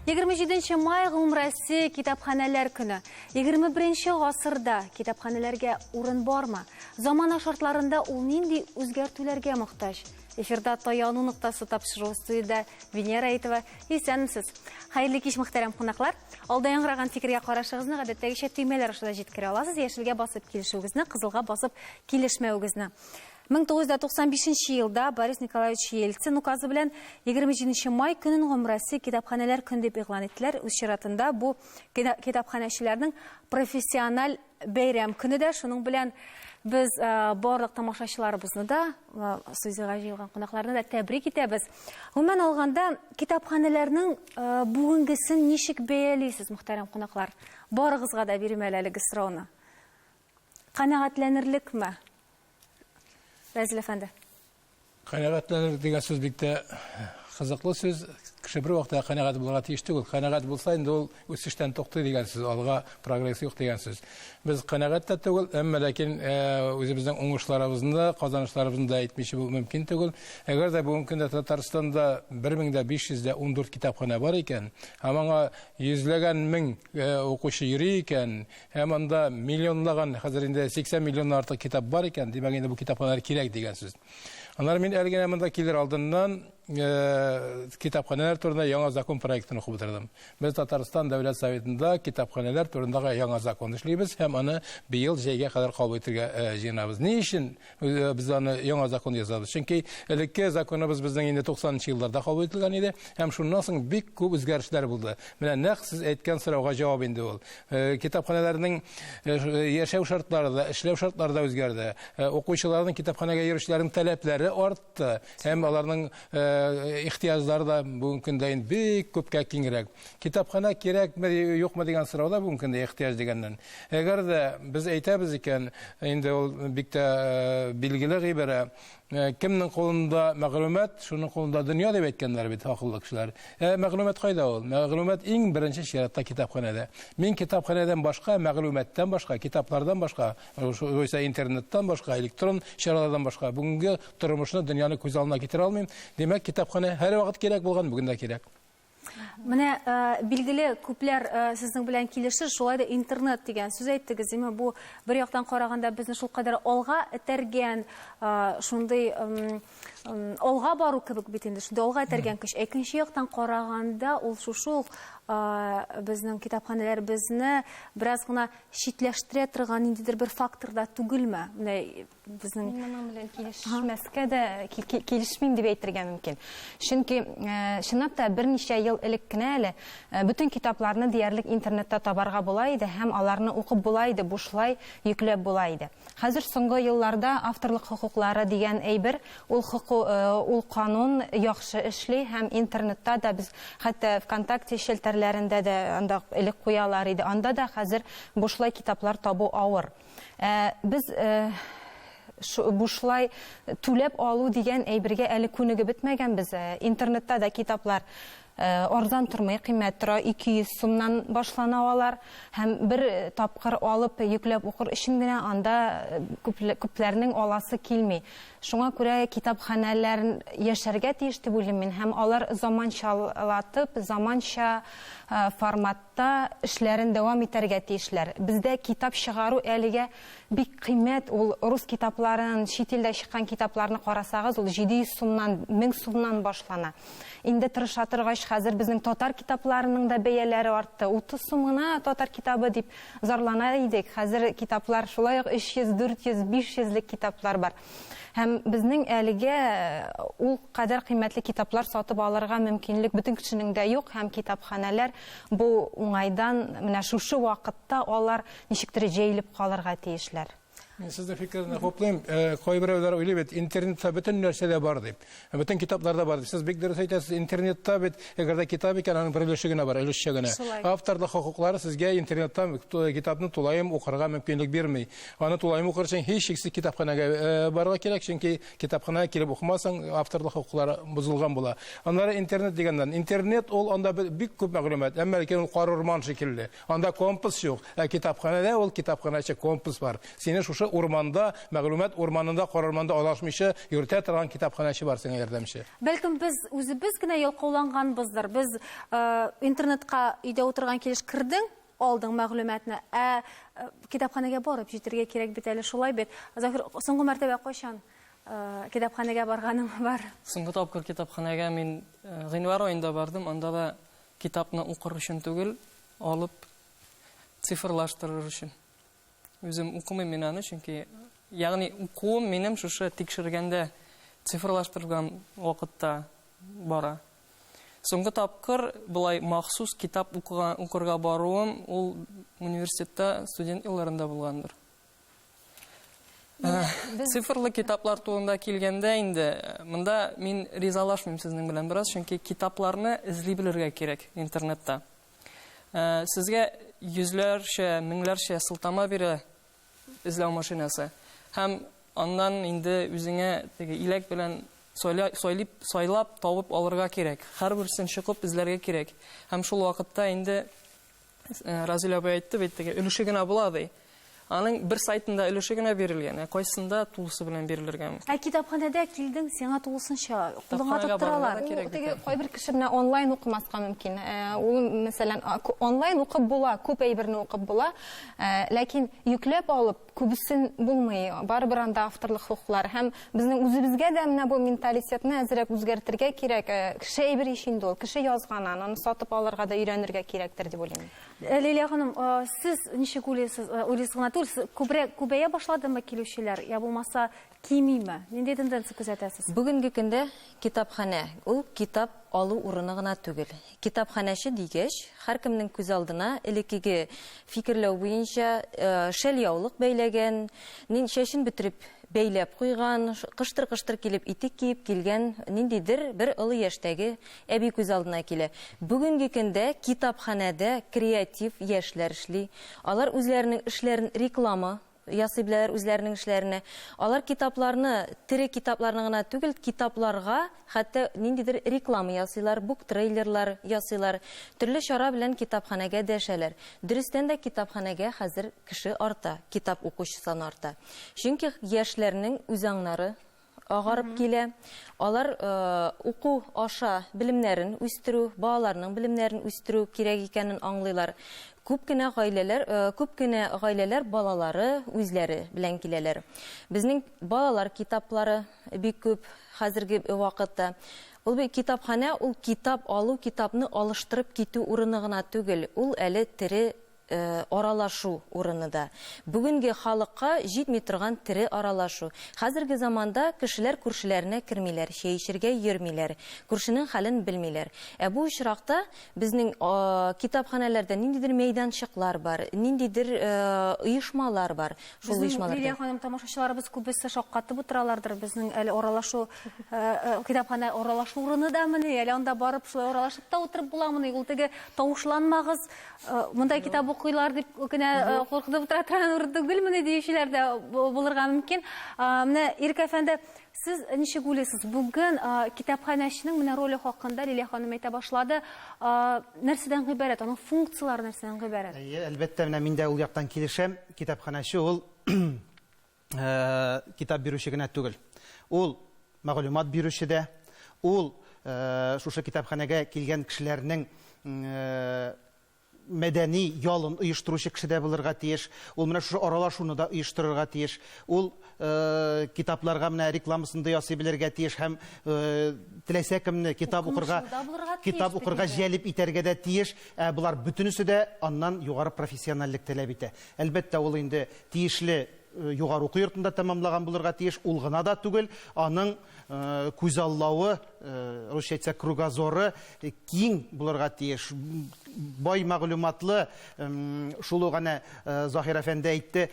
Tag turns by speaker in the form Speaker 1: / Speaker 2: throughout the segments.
Speaker 1: Егерме җиденче май Гомрәсе китапханәләр көне. Егерме беренче гасырда китапханәләргә урын бармы? Замана шартларында ул нинди үзгәртүләргә мохтаҗ? Эфирда таяну ноктасы тапшыру студияда Венера Әйтова. Исәнмесез. Хәерле кич, мөхтәрәм кунаклар. Алда яңгыраган фикергә карашыгызны гадәттәгечә төймәләр аша да җиткерә аласыз. Яшелгә басып килешүегезне, кызылга басып килешмәвегезне. 1995 елда Борис Николаевич Ельцин указы белән 27 май көнен гомумроссия китапханәләр көн дип игълан иттеләр. Үз чиратында бу китапханәчеләрнең профессиональ Бәйрәм көне дә шуның белән без барлык тамашачыларыбызны да, студиягә җыелган кунакларны да тәбрик итәбез. Гомумән алганда, китапханәләрнең бүгенгесен ничек бәялисез, мөхтәрәм кунаклар? Барыгызга да бирим әле әлеге сорауны. Канәгатьләнерлекме? Рәзил әфәнде. Канәгатьләнер
Speaker 2: дигән сүз бик тә кызыклы сүз. Кеше бер вакытта канәгать булырга тиеш түгел. Канәгать булса, инде ул үсештән туктый дигән сүз, алга прогресс юк дигән сүз. Без канәгать тә түгел, әмма ләкин э, үзебезнең уңышларыбызны да, казанышларыбызны да әйтмичә булу мөмкин түгел. Әгәр дә бүгенге көндә Татарстанда 1514 китапханә бар икән, һәм аңа йөзләгән мең э, укучы йөри икән, Һәм анда миллионлаган, хәзер инде 80 миллионнан артык китап бар икән, димәк инде бу китапханәләр кирәк дигән сүз. Аннары мин әле генә монда килер алдыннан э, китапханәләр турында яңа закон проектын укып утырдым. Без Татарстан Дәүләт Советында китапханәләр турындагы яңа закон эшлибез һәм аны быел җәйгә кадәр кабул итергә э, җыенабыз. Ни өчен Э, без аны яңа закон ясадык чөнки элекке законыбыз безнең инде туксанынчы елларда кабул ителгән иде һәм шуннан соң бик күп үзгәрешләр булды менә нәкъ сез әйткән сорауга җавап инде ул э, китапханәләрнең э, яшәү шартлары да эшләү шартлары да үзгәрде укучыларның китапханәгә йөрүчеләрнең таләпләре арт артты һәм аларның ихтыяҗлары да бүгенге көндә инде бик күпкә киңрәк. Китапханә кирәкме, юкмы дигән сорау да бүгенге көндә ихтыяҗ дигәннән. Әгәр дә без әйтәбез икән, инде ул бик тә билгеле гыйбарә, Кемнең кулында мәгълүмат, шуның кулында дөнья, дип әйткәннәр бит акыллы кешеләр. Ә мәгълүмат кайда ул? Мәгълүмат иң беренче чиратта китапханәдә. Мин китапханәдән башка, мәгълүматтан башка, китаплардан башка Югыйсә интернеттан башка, электрон чаралардан башка бүгенге тормышны, дөньяны күз алдына китерә алмыйм. Димәк, китапханә һәрвакыт кирәк булган, бүген дә кирәк. Менә э,
Speaker 1: билгеле күпләр э, сезнең белән килешер, шулай да интернет дигән сүз әйттегез. Димәк, бу бер яктан караганда безне шул кадәр алга этәргән, э, шундый алга бару кебек бит инде, шундый алга этәргән көч. Икенче яктан караганда, ул шушы ук безнең китапханәләребезне бераз гына читләштерә торган ниндидер бер фактор да түгелме? Менә безнең Мин моның белән
Speaker 3: килешмәскә дә килешмим дип әйтергә мөмкин. Чөнки чынлап та берничә ел элек кенә әле бөтен китапларны диярлек интернетта табарга була иде һәм аларны укып була иде, бушлай йөкләп була иде. Хәзер соңгы елларда авторлык хокуклары дигән әйбер, ул хоку, ул канун яхшы эшли һәм интернетта да без хәтта ВКонтакте челтәрләрендә дә анда элек куялар иде, анда да хәзер бушлай китаплар табу авыр. Ә без шу, бушлай түләп алу дигән әйбергә әле күнегеп бетмәгәнбез. Интернетта да китаплар Арзан тормый, кыйммәт тора, 200 сумнан башлана алар. Һәм бер тапкыр алып, йөкләп укыр өчен генә анда күпләрнең аласы килми. Шуңа күрә китапханәләр яшәргә тиеш дип уйлыйм мин. Һәм алар заманчалатып, заманча формат та эшләрен дәвам итәргә тиешләр. Бездә китап чыгару әлегә бик кыйммәт, ул рус китапларын, чит илдә чыккан китапларны карасагыз, ул 700 сумнан, 1000 сумнан башлана. Инде тырыша торгач, хәзер безнең татар китапларының да бәяләре артты. 30 сум гына татар китабы дип зарлана идек, хәзер китаплар шулай ук 300, 400, 500 лек китаплар бар. Һәм безнең әлегә ул кадәр кыйммәтле китаплар сатып алырга мөмкинлек бөтен кешенең дә юк, һәм китапханәләр бу уңайдан менә шушы вакытта алар ничектер җәелеп калырга тиешләр. Мин сезнең
Speaker 2: фикерне хуплыйм. Кайберәүләр уйлый бит, интернетта бөтен нәрсә дә бар дип. Бөтен китапларда бар. Сез бик дөрес әйтәсез. Интернетта бит, әгәр дә китап икән, аның бер өлеше генә бар, өлешчә генә. Авторлык хокуклары сезгә интернетта китапны тулаем укырга мөмкинлек бирми. Аны тулаем укыр өчен һичшиксез китапханәгә э, барырга кирәк, чөнки китапханәгә килеп укымасаң, авторлык хокуклары бозылган була. Аннары интернет дигәннән, интернет ул анда бик күп мәгълүмат, әмма ләкин ул кар урман шикелле. Анда компас юк, ә китапханәдә ул китапханәче компас бар. Сине шушы урманда, мәгълүмат урманында карарманда адашмыйча йөртә торган китапханәче бар сиңа ярдәмче. Бәлкем без
Speaker 1: үзебез генә ялкауланганбыздыр. Без интернетка өйдә утырган килеш кердең, алдың мәгълүматны, ә китапханәгә барып җитергә кирәк бит әле, шулай бит? Заһир, соңгы мәртәбә кайчан китапханәгә барганың бар? Соңгы тапкыр
Speaker 4: китапханәгә мин гыйнвар аенда бардым, анда да Китапны укыр өчен түгел, алып цифрлаштырыр өчен. Үзем укымыйм мин аны, чөнки ягъни укуым минем шушы тикшергәндә цифрлаштырган вакытта бара. Соңгы тапкыр болай махсус китап укырга баруым ул университетта студент елларында булгандыр. Э, цифрлы китаплар турында килгәндә инде э, монда мин ризалашмыйм сезнең белән бераз, чөнки китапларны эзли белергә кирәк интернетта. Э, сезгә йөзләрчә, меңләрчә сылтама бирә эзләү машинасы. Һәм аннан инде үзеңә теге иләк белән сайлап, сайлап табып алырга кирәк. Һәрберсен чыгып эзләргә кирәк. Һәм шул вакытта инде Э, Разиль абый әйтте бит теге өлеше генә була ди. Аның бер сайтында өлеше генә бирелгән, ә кайсында тулысы белән бирелергә мөмкин. Ә китапханәдә килдең,
Speaker 1: сиңа тулысынча кулыңа Китапханәгә тоттыралар. барырга кирәк. Теге кайбер
Speaker 3: кеше менә онлайн укымаска мөмкин. Э, Ул, мәсәлән, а, ку- онлайн укып була, күп әйберне укып була. Э, Ләкин йөкләп алып, Күбесен булмый, барыбер анда авторлык хокуклары һәм безнең үзебезгә дә менә бу менталитетны әзрәк үзгәртергә кирәк. Кеше әйбер ич инде ул, кеше язган аны, аны сатып алырга да өйрәнергә кирәктер дип уйлыйм. Лилия ханым,
Speaker 1: сез ничек уйлыйсыз, уйлыйсыз гына түгел, күбрәк күбәя башладымы килүчеләр, я булмаса Кимиме? Нинди тенденция күзәтәсез? Бүгенге көндә
Speaker 5: китапханә, ул китап алу урыны гына түгел. Китапханәче дигәч, һәркемнең күз алдына элеккеге фикерләү буенча шәльяулык бәйләгән, чәчен бөтереп бәйләп куйган, кыштыр-кыштыр килеп итек киеп килгән ниндидер бер олы яшьтәге әби күз алдына килә. Бүгенге көндә китапханәдә креатив яшьләр эшли. Алар үзләренең эшләрен реклама ясый беләләр үзләренең эшләренә. Алар китапларны тере китапларны гына түгел, китапларга хәтта ниндидер реклама ясыйлар, буктрейлерлар ясыйлар, төрле чара белән китапханәгә дәшәләр. Дөрестән дә китапханәгә хәзер кеше арта, китап укучы саны арта. Чөнки яшьләрнең үзаңнары агарып килә. Алар уку аша белемнәрен үстерү, балаларның белемнәрен үстерү кирәк икәнен аңлыйлар. Күп кенә гаиләләр, күп кенә гаиләләр балалары үзләре белән киләләр. Безнең балалар китаплары бик күп хәзерге вакытта. Ул бит китапханә, ул китап алу, китапны алыштырып китү урыны гына түгел, ул әле тере аралашу урыны да. Бүгенге халыкка җитми торган тере аралашу. Хәзерге заманда кешеләр күршеләренә кермиләр, чәй эчергә йөрмиләр, күршенең хәлен белмиләр. Ә бу очракта безнең китапханәләрдә ниндидер мәйданчыклар бар, ниндидер оешмалар бар. Шул оешмалар. Безнең, Лилия ханым, тамашачыларыбыз
Speaker 1: күбесе шаккатып утыралардыр, безнең әле аралашу, китапханә аралашу урыны дамыни, әле анда барып шулай аралашып та утырып буламыни? Ул теге тавышланмагыз, Э, мондай китап укыйлар дип кенә э, куркынып утыра торган урын түгелмени диючеләр дә булырга мөмкин менә ирек әфәнде сез ничек уйлыйсыз бүген китапханәченең менә роле хакында лилия ханым әйтә башлады нәрсәдән гыйбарәт аның функцияләре нәрсәдән гыйбарәт әлбәттә менә мин дә
Speaker 6: ул яктан килешәм китапханәче ул китап бирүче генә түгел. Ул мәгълүмат бирүче дә, ул шушы китапханәгә килгән кешеләрнең мәдәни ялын оештыручы кеше дә булырга тиеш. Ул менә шушы аралашуны да оештырырга тиеш. Ул э, китапларга менә рекламасын да ясый белергә тиеш һәм э, теләсә кемне китап укырга китап укырга җәлеп итәргә дә тиеш. Ә болар бөтенесе дә аннан югары профессиональлек таләп итә. Әлбәттә, ул инде тиешле югары уку йортында тәмамлаган булырга тиеш. Ул гына да түгел, аның күзаллавы, русча әйтсәк, кругозоры киң булырга тиеш. Бай мәгълүматлы, шул ук әнә Заһир әфәнде әйтте,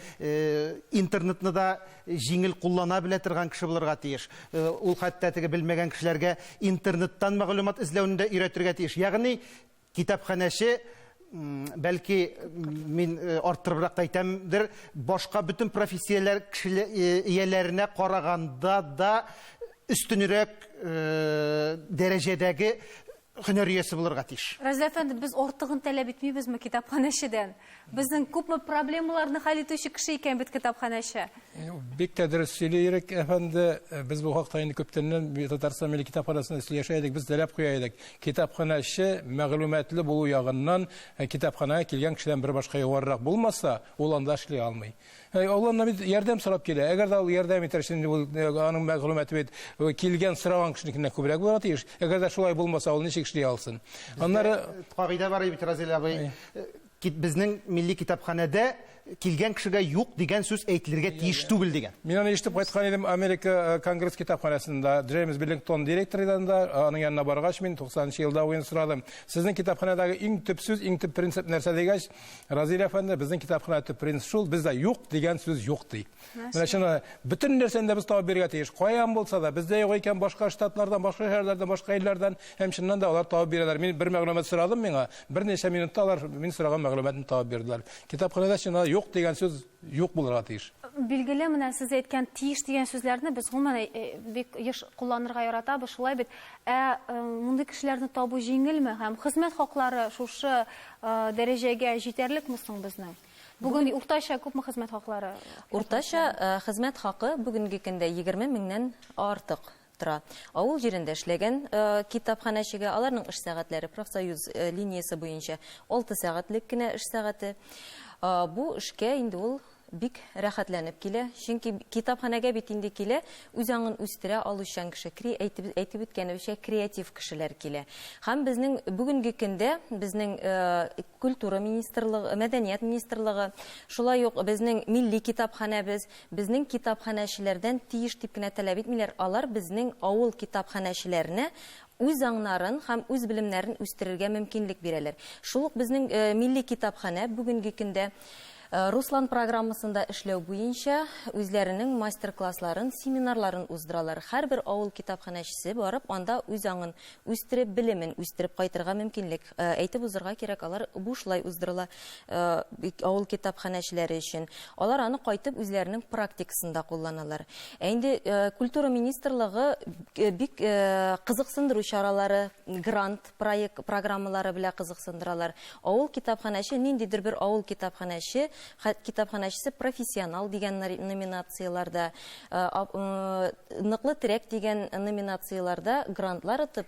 Speaker 6: интернетны да җиңел куллана белә торган кеше булырга тиеш. Ул хәтта теге белмәгән кешеләргә интернеттан мәгълүмат эзләүне дә өйрәтергә тиеш. Ягъни Китапханәче, бәлки, мин арттырыбрак та әйтәмдер, башка бөтен профессияләр ияләренә караганда да өстенрәк дәрәҗәдәге һөнәр иясе булырга тиеш. Разил әфәнде, без артыгын
Speaker 1: таләп итмибезме китапханәчедән? Безнең күпме проблемаларны хәл итүче кеше икән бит китапханәче. Бик тә
Speaker 2: дөрес сөйли Ирек әфәнде. Э, без бу хакта инде күптәннән Татарстан милли китапханәсендә сөйләшә идек, без теләп куя идек. Китапханәче мәгълүматлы булу ягыннан э, китапханәгә килгән кешедән бер башка югарырак булмаса, ул анда эшли алмый. Э, ул аннан бит ярдәм сорап килә. Әгәр дә ул ярдәм итәр өчен инде ул э, аның мәгълүматы бит э, килгән сораган кешенекеннән күбрәк булырга тиеш. Әгәр дә шулай булмаса, ул ничек эшли алсын? Аннары кагыйдә бар бит
Speaker 6: Разил абый. Безнең милли китапханәдә килгән кешегә юк дигән сүз әйтелергә тиеш түгел дигән. Мин аны ишетеп кайткан идем
Speaker 2: Америка конгресс китапханәсендә. Джеймс Биллингтон директор иде анда. Аның янына баргач, мин 90 елда уен сорадым. Сезнең китапханәдәге иң төп сүз, иң төп принцип нәрсә дигәч, Разил әфәнде, безнең китапханә төп принцип шул, бездә юк дигән сүз юк ди. Менә чын бөтен нәрсәне дә без табып бирергә тиеш. Каян булса да, бездә юк икән башка штатлардан, башка шәһәрләрдән, башка илләрдән һәм чыннан да алар табып бирәләр. Мин бер мәгълүмат сорадым миңа, берничә минутта алар мин сораган мәгълүматны табып бирделәр. Китапханәдә чыннан юк дигән сүз юк булырга тиеш. Билгеле, менә сез
Speaker 1: әйткән тиеш дигән сүзләрне без гомумән э, э, бик еш кулланырга яратабыз, шулай бит. Ә э, мондый кешеләрне табу җиңелме һәм хезмәт хаклары шушы дәрәҗәгә җитәрлекме соң безнең? Бүген уртача күпме хезмәт хаклары? Уртача
Speaker 5: хезмәт хакы бүгенге көндә 20 меңнән артык тора. Авыл җирендә эшләгән китапханәчегә аларның эш сәгатьләре профсоюз линиясе буенча алты сәгатьлек кенә эш сәгате. Бу эшкә инде ул бик рәхәтләнеп килә, чөнки китапханәгә бит инде килә үз аңын үстерә алучан кеше, кри әйтеп әйтеп үткәнебезчә, креатив кешеләр килә. Һәм безнең бүгенге көндә безнең культура министрлыгы, мәдәният министрлыгы, шулай ук безнең милли китапханәбез, Безнең китапханәчеләрдән тиеш дип кенә таләп итмиләр, алар безнең авыл китапханәчеләренә үз аңнарын һәм үз белемнәрен үстерергә мөмкинлек бирәләр. Шул ук безнең милли китапханә бүгенге көндә Руслан программасында эшләү буенча үзләренең мастер-классларын, семинарларын уздыралар. Һәрбер авыл китапханәчесе барып анда үз аңын үстереп, белемен үстереп кайтырга мөмкинлек. Әйтеп узырга кирәк, алар бушлай уздырыла авыл китапханәчеләре өчен. Алар аны кайтып үзләренең практикасында кулланалар. Ә инде культура министрлыгы бик кызыксындыру чаралары, грант проект программалары белән кызыксындыралар. Авыл китапханәче, ниндидер бер авыл китапханәче, китапханәчесе профессионал дигән номинацияләрдә, ныклы терәк дигән номинацияләрдә грантлар отып,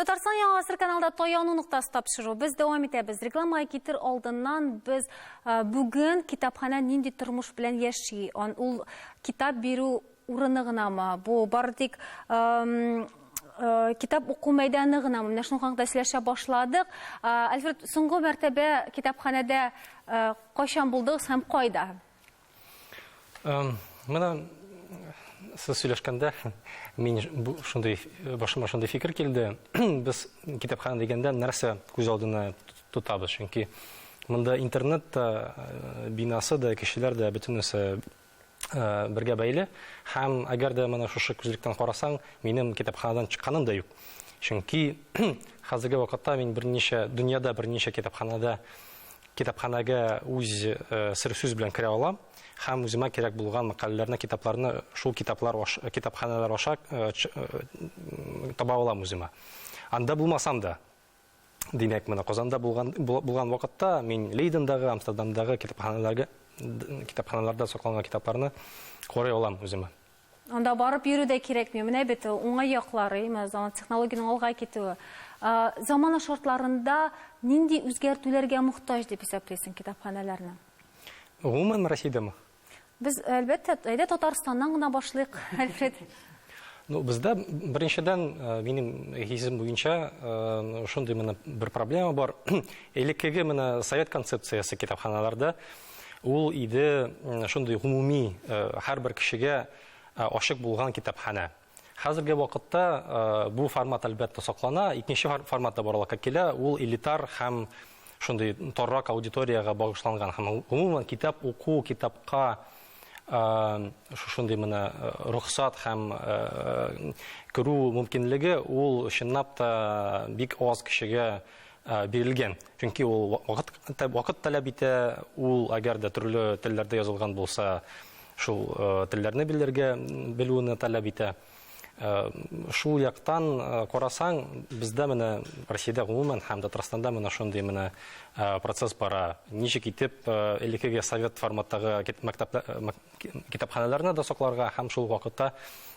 Speaker 1: Татарстан яңа гасыр каналда таяну ноктасы тапшыру. Без дәвам итәбез. Рекламага китер алдыннан без ә, бүген китапханә нинди тормыш белән яши? Он, ул китап бирү урыны гынамы? Бу бары тик ә, китап уку мәйданы гынамы? Менә шуның хакында сөйләшә башладык. Ә, Альфред, соңгы мәртәбә китапханәдә ә, кайчан булдыгыз һәм кайда?
Speaker 7: Менә сез сөйләшкәндә мин шундый башыма шундый фикер килде. Без китапхана дигәндә нәрсә күз алдына тотабыз? Чөнки монда интернет та, э, бинасы да, кешеләр дә бөтенесе э, бергә бәйле. Һәм әгәр дә менә шушы күзлектән карасаң, минем китапханадан чыкканым да юк. Чөнки хәзерге вакытта мин берничә дөньяда берничә китапханада Китапханәгә үз сер сүз белән керә алам һәм үземә кирәк булган мәкаләләрне, китапларны шул китаплар китапханәләр аша таба алам үземә. Анда булмасам да, димәк, менә Казанда булган булган вакытта мин Лейдендагы, Амстердамдагы китапханәләргә китапханәләрдә сакланган китапларны карый алам үземә. Анда барып
Speaker 1: йөрү дә кирәкми. Менә бит уңай яклары, именно заман технологиянең алга китүе. Ә, Замана шартларында нинди үзгәртүләргә мохтаҗ дип исәплисең китапханәләрне? Гомумән
Speaker 7: Россиядәме? Без,
Speaker 1: әлбәттә, әйдә Татарстаннан гына башлыйк, Альфред. Ну, бездә
Speaker 7: беренчедән э, минем хисем буенча э, шундый менә бер проблема бар. Элеккеге менә совет концепциясе китапханаларда Ул иде шундый гомуми һәрбер кешегә ачык булган китапханә. Хәзерге вакытта э, бу формат әлбәттә саклана. Икенче форматта барлыкка килә, ул элитар һәм шундый торрак аудиториягә багышланган һәм гомумән китап уку, китапка э, шушындый менә э, рөхсат һәм керү мөмкинлеге ул чынлап та бик аз кешегә бирелгән. Чөнки ул вакыт таләп итә, ул әгәр дә төрле телләрдә язылган булса, шул телләрне белергә, белүне таләп итә. Шул яктан карасаң, бездә менә Россиядә гомумән һәм Татарстанда менә шундый менә процесс бара. Ничек итеп элеккеге совет форматтагы мәктәпләр китапханәләрне дә сакларга һәм шул вакытта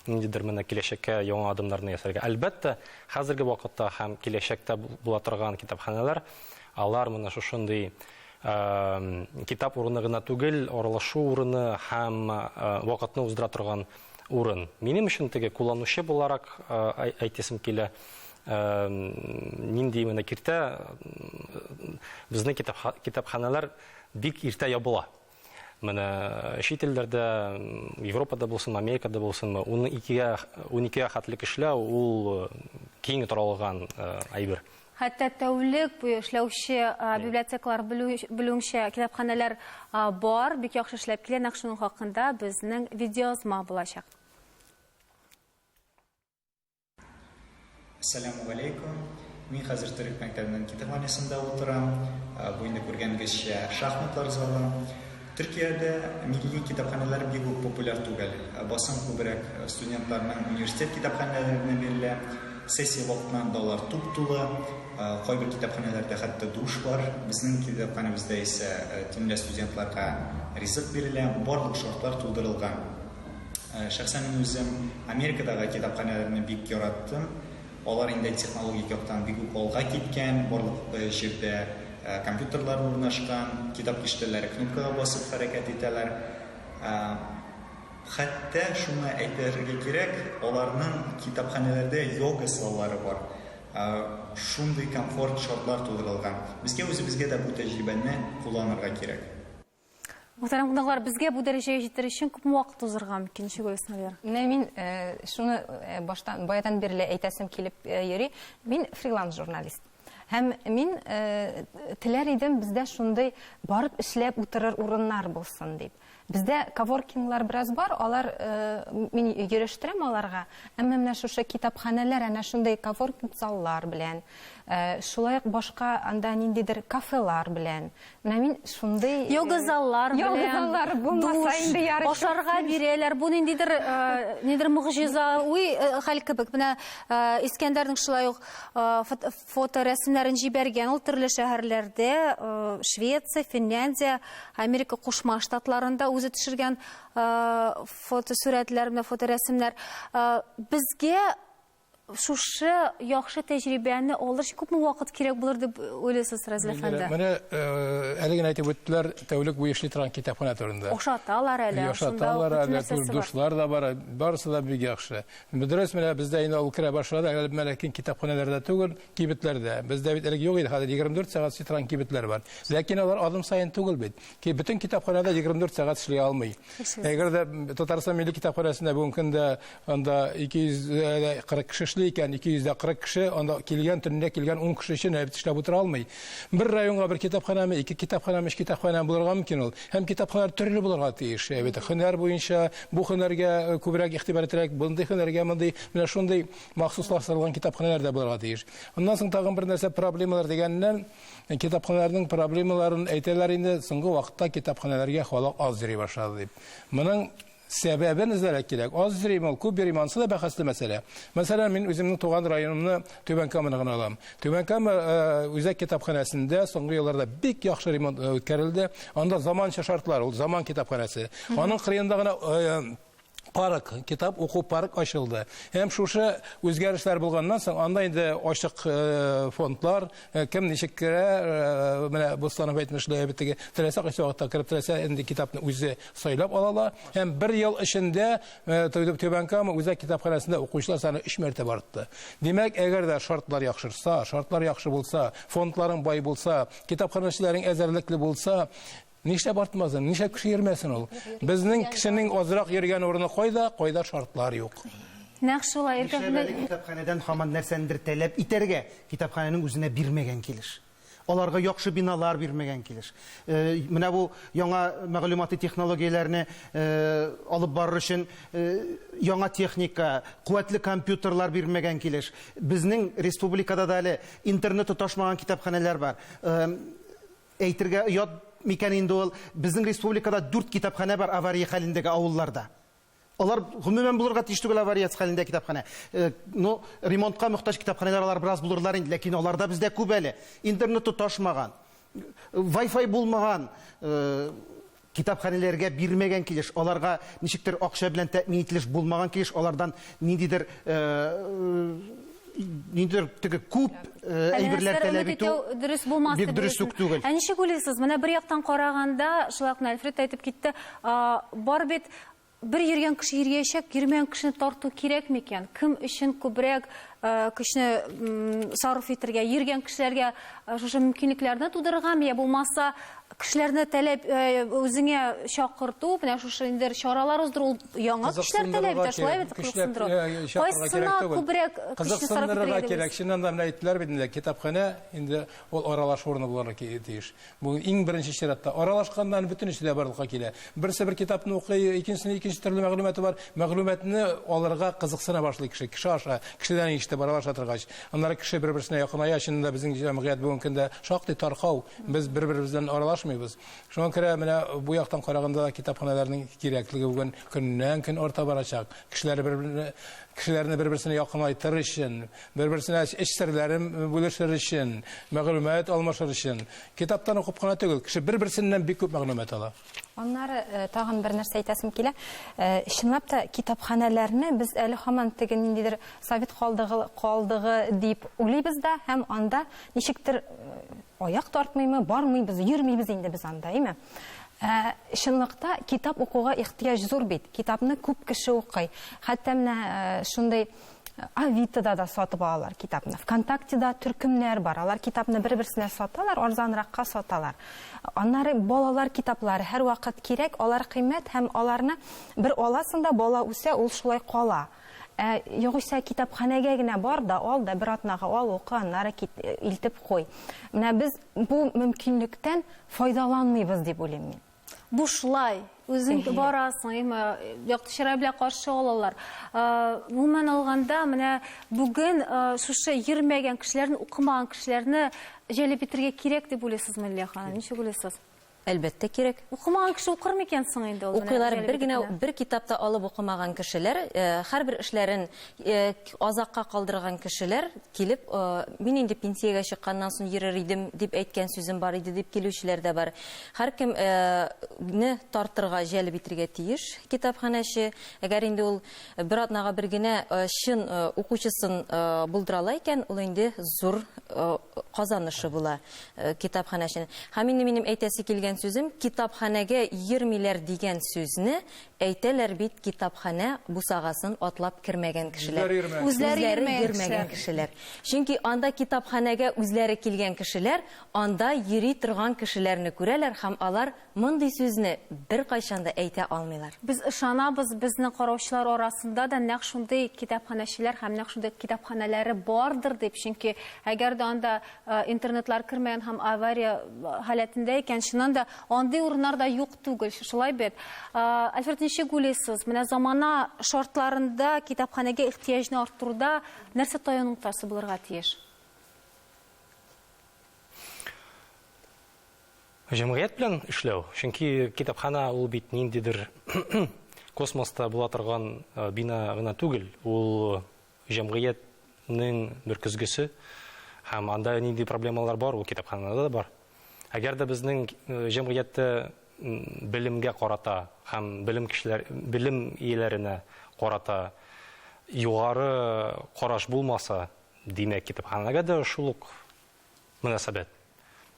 Speaker 7: ниндидер менә киләчәккә яңа адымнарны ясарга. Әлбәттә, хәзерге вакытта һәм киләчәктә була торган китапханәләр алар менә шушындый китап урыны гына түгел, аралашу урыны һәм вакытны уздыра торган урын. Минем өчен теге кулланучы буларак әйтәсем килә, нинди менә киртә безнең китапханәләр бик иртә ябыла. Менә чит илләрдә, Европада булсынмы, Америкада булсынмы, уны икегә, уникегә хәтле эшләү ул э, киң таралган э, әйбер. Хәтта
Speaker 1: тәүлек буе эшләүче э, библиотекалар белү- белүемчә китапханәләр а, бар, бик яхшы эшләп килә, нәкъ шуның хакында безнең видеоязма булачак.
Speaker 8: Сәләм галейкум. Мин хәзер төрек мәктәбенең китапханәсендә утырам. Э, бу инде күргәнгезчә шахматлар залы. Төркиядә милли китапханәләр бик үк популяр түгел. Э, басым күбрәк э, студентларның университет китапханәләренә бирелә. Сессия вакытыннан далар туп тулы. Кайбер китапханәләрдә хәтта душ бар. Безнең китапханәбездә исә төнлә студентларга ризык бирелә. Барлык шартлар тудырылган. Э, шәхсән мин үзем Америкадагы китапханәләрне бик яраттым. Алар инде технологик яктан бик үк алга киткән, барлык э, җирдә э, компьютерлар урнашкан, китап киштәләре кнопкага басып хәрәкәт итәләр. Хәтта шуны әйтергә кирәк, аларның китапханәләрдә йога саллары бар. Шундый комфорт шартлар тудырылган. Безгә үзебезгә дә бу тәҗрибәне кулланырга кирәк. Мөхтәрәм
Speaker 1: кунаклар, безгә бу дәрәҗәгә җитәр өчен күпме вакыт узырга мөмкин, Шигуль Исмәлгар? Менә мин э,
Speaker 3: шуны э, баштан баядан бирле әйтәсем килеп э, йөри. Мин фриланс журналист. Һәм мин э, теләр идем бездә шундый барып эшләп утырыр урыннар булсын дип. Бездә коворкинглар бераз бар, алар э, мин йөрештерәм аларга. Әмма менә шушы китапханәләр әнә шундый коворкинг заллар белән, э, шулай ук башка анда ниндидер кафелар белән Менә мин шундый э, йога заллар белән душ ашарга бирәләр.
Speaker 1: Бу ниндидер э, нидер мөгъҗиза, уй э, хәл кебек. Менә Искәндәрнең шулай ук фоторәсемнәрен җибәргән ул төрле шәһәрләрдә, Швеция, Финляндия, Америка Кушма Штатларында үзе төшергән фотосурәтләр, менә фоторәсемнәр. Безгә Шушы яхшы тәҗрибәне алыр өчен күпме вакыт кирәк булыр дип уйлыйсыз, Разил әфәнде? Менә
Speaker 2: әле генә әйтеп үттеләр, тәүлек буе эшли торган китапханә турында. Ошаталар әле,
Speaker 1: ошаталар әле,
Speaker 2: дуслар да бар, барысы да бик яхшы. Дөрес, менә бездә инде ул керә башлады, әле менә ләкин китапханәләрдә түгел, кибетләрдә. Бездә бит элек юк иде, хәзер 24 сәгать эшли торган кибетләр бар. Ләкин алар адым саен түгел бит. Ки бөтен китапханәдә 24 сәгать эшли алмый. Әгәр дә Татарстан милли китапханәсендә бүгенге көндә анда 240 кеше эшли икән, 240 кеше анда килгән төнлә килгән 10 кеше өчен әбит эшләп утыра алмый. Бер районга бер китапханәме, ике китапханәме, өч китапханәме булырга мөмкин ул. Һәм китапханәләр төрле булырга тиеш. Әбит һөнәр буенча бу һөнәргә э, күбрәк игътибар итәрәк, мондый һөнәргә мондый, менә шундый махсуслаштырылган китапханәләр дә булырга тиеш. Аннан соң тагын бер нәрсә проблемалар дигәннән, Китапханәләрнең проблемаларын әйтәләр инде, соңгы вакытта китапханәләргә халык аз йөри башлады дип. Моның сәбәбен эзләргә кирәк. Аз йөрим ул, күп йөрим, ансы да бәхәсле мәсьәлә. Мәсәлән, мин үземнең туган районымны Түбән Каманы гына алам. Түбән Кама э, үзәк китапханәсендә соңгы елларда бик яхшы ремонт э, үткәрелде. Анда заманча шартлар, ул заман китапханәсе. Аның кырыенда гына э, парк, китап уку парк ачылды. Һәм шушы үзгәрешләр булганнан соң, анда инде ачык э, фондлар, э, кем ничек керә, э, менә Бустанов әйтмешли, битеге теләсә кайсы вакытта кереп теләсә инде китапны үзе сайлап алалар. Һәм бер ел эчендә Түбән Кама үзәк китапханәсендә укучылар саны 3 мәртәбә артты. Димәк, әгәр дә шартлар яхшырса, шартлар яхшы булса, фондларың бай булса, китапханәчеләрең әзерлекле булса, Нишләп артмасын, нишләп кеше йөрмәсен ул? Безнең кешенең азрак йөргән урыны кайда, кайда шартлар юк. Нәкъ шулай,
Speaker 1: Иркә Нишләп әле китапханәдән
Speaker 6: һаман нәрсәнедер таләп итәргә? Китапханәнең үзенә бирмәгән килеш. Аларга яхшы биналар бирмәгән килеш. Э, Менә бу яңа мәгълүмати технологияләрне э, алып барыр өчен э, яңа техника, куәтле компьютерлар бирмәгән килеш. Безнең республикада да әле интернет тоташмаган китапханәләр бар. Э, Әйтергә оят микән инде ул, безнең республикада дүрт китапханә бар авария хәлендәге авылларда. Алар гомумән булырга тиеш түгел аварияц хәлендә китапханә. Э, ну, ремонтка мөхтаҗ китапханәләр алар бераз булырлар инде, ләкин алар да бездә күп әле. Интернет тоташмаган, Wi-Fi булмаган, э, Китапханәләргә бирмәгән килеш, аларга ничектер акча белән тәэмин ителеш булмаган килеш, алардан ниндидер ниндидер теге күп әйберләр таләп итү дөрес булмас бик
Speaker 1: дөрес үк түгел. Ә
Speaker 6: ничек уйлыйсыз? Менә
Speaker 1: бер яктан караганда, шулай ук Альфред әйтеп китте, бар бит Бер йөргән кеше йөргәячәк, йөрмәгән кешене тарту кирәкме икән? Кем өчен күбрәк көчне сарыф итергә? Йөргән кешеләргә шушы мөмкинлекләрне тудырыргамы я булмаса кешеләрне таләп үзеңә чакырту, менә шушы инде чаралар уздыру яңа кешеләр таләп итә, шулай бит кызыксындыру. Кайсына күбрәк көчне сарыф итергә? Кирәк, чыннан да менә
Speaker 2: әйттеләр бит инде, китапханә инде ул аралашу урыны булырга тиеш. Бу иң беренче чиратта. Аралашканда аны бөтенесе дә барлыкка килә. Берсе бер китапны укый, икенчесенең икенче төрле мәгълүматы бар. Мәгълүматны алырга кызыксына башлый кеше, кеше аша, кешедән ишетеп аралаша торгач. Аннары кеше бер-берсенә якыная. Чынында да безнең җәмгыять бүгенге көндә шактый таркау. Без бер-беребез белән аралашмыйбыз. Шуңа күрә менә бу яктан караганда да китапханәләрнең кирәклеге бүген көннән-көн арта барачак. Кешеләр бер-берне, кешеләрне бер-берсенә якынайтыр өчен, Бер-берсенә эч серләрен бүлешер өчен, мәгълүмат алмашыр өчен. Китаптан укып кына түгел, кеше бер-берсеннән бик күп мәгълүмат ала. Аннары
Speaker 3: тагын бер нәрсә әйтәсем килә. Чынлап та, китапханәләрне без әле һаман теге ниндидер совет калдыгы калдыгы дип уйлыйбыз да һәм анда ничектер аяк тартмыймы, бармыйбыз, йөрмибез инде без анда, әйме? Ә чынлыкта китап укуга ихтыяҗ зур бит. Китапны күп кеше укый. Хәтта менә шундый Авитода да сатып алалар китапны. ВКонтактеда төркемнәр бар. Алар китапны бер-берсенә саталар, арзанракка саталар. Аннары балалар китаплары һәрвакыт кирәк, алар кыйммәт һәм аларны бер аласың да, бала үсә, ул шулай кала. Ә югыйсә китапханәгә генә бар да, ал да, бер атнага ал, укы, аннары илтеп куй. Менә без бу мөмкинлектән файдаланмыйбыз дип уйлыйм мин. бушлай
Speaker 1: үзең барасың әмма якты чырай белән каршы алалар гомумән алганда менә бүген шушы йөрмәгән кешеләрне укымаган кешеләрне җәлеп итәргә кирәк дип уйлыйсызмы лилия ханым ничек уйлыйсыз әлбәттә кирәк
Speaker 5: укымаган кеше укыр
Speaker 1: микән соң инде ул укыйлар бер генә бер
Speaker 5: китапта алып укымаган кешеләр һәрбер эшләрен Азакка калдырган кешеләр килеп, мин инде пенсиягә чыкканнан соң йөрер идем дип әйткән сүзем бар иде дип килүчеләр дә бар. Һәркем не тартырга, җәлеп итергә тиеш китапханәче. Әгәр инде ул бер атнага бер генә чын укучысын булдырала икән, ул инде зур казанышы була китапханәченең. Һәм инде минем әйтәсе килгән сүзем, китапханәгә йөрмиләр дигән сүзне Әйтәләр бит, китапханә бусагасын атлап кермәгән кешеләр, үзләре йөрмәгән кешеләр. Чөнки анда китапханәгә үзләре килгән кешеләр анда йөри торган кешеләрне күрәләр һәм алар мондый сүзне беркайчан да әйтә алмыйлар. Без ышанабыз,
Speaker 1: безнең караучылар арасында да нәкъ шундый китапханәчеләр һәм нәкъ шундый китапханәләре бардыр дип, чөнки әгәр дә анда интернетлар кермәгән һәм авария халәтендә икән, чыннан да андый урыннар да юк түгел, шулай бит. Альфред, ничек уйлыйсыз, менә замана шартларында китапханәгә ихтыяҗны арттыруда нәрсә таян ноктасы булырга тиеш?
Speaker 7: Җәмгыять белән эшләү, чөнки китапхана ул бит ниндидер космоста була торган бина гына түгел, ул Җәмгыятьнең бер көзгесе һәм анда нинди проблемалар бар, ул китапханада да бар. Әгәр дә безнең җәмгыятьтә белемгә карата һәм белем кешеләр, белем ияләренә карата югары караш булмаса, димәк, китапханәгә дә шул ук мөнәсәбәт.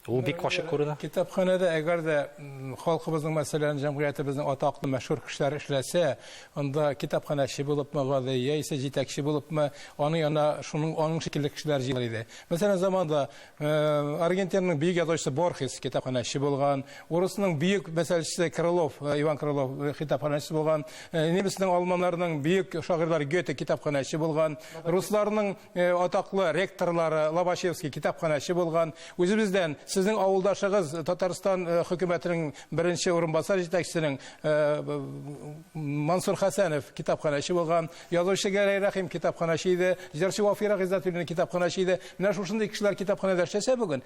Speaker 7: Ул бик ачык күренә. Китапханәдә әгәр дә
Speaker 2: халкыбызның, мәсәлән, җәмгыятебезнең атаклы мәшһүр кешеләре эшләсә, анда китапханәче булыпмы гади, яисә җитәкче булыпмы, аны янына шуның аның шикелле кешеләр җыелыр иде. Мәсәлән, заманда э, Аргентинаның бөек язучысы Борхес китапханәче булган, урысның бөек мәсәлчесе Крылов, э, Иван Крылов э, китапханәче булган, немецның, алманнарның бөек шагыйрьләре Гёте китапханәче булган, русларның Э, атаклы ректорлары лобачевский китапханәче булган үзебездән сезнең авылдашыгыз татарстан э, хөкүмәтенең беренче урынбасар җитәкчесенең э, мансур хәсәнов китапханәче булган язучы гәрәй рәхим китапханәче иде җырчы вафира гыйззәтуллина китапханәче иде менә шушындый кешеләр китапханәдә эшләсә бүген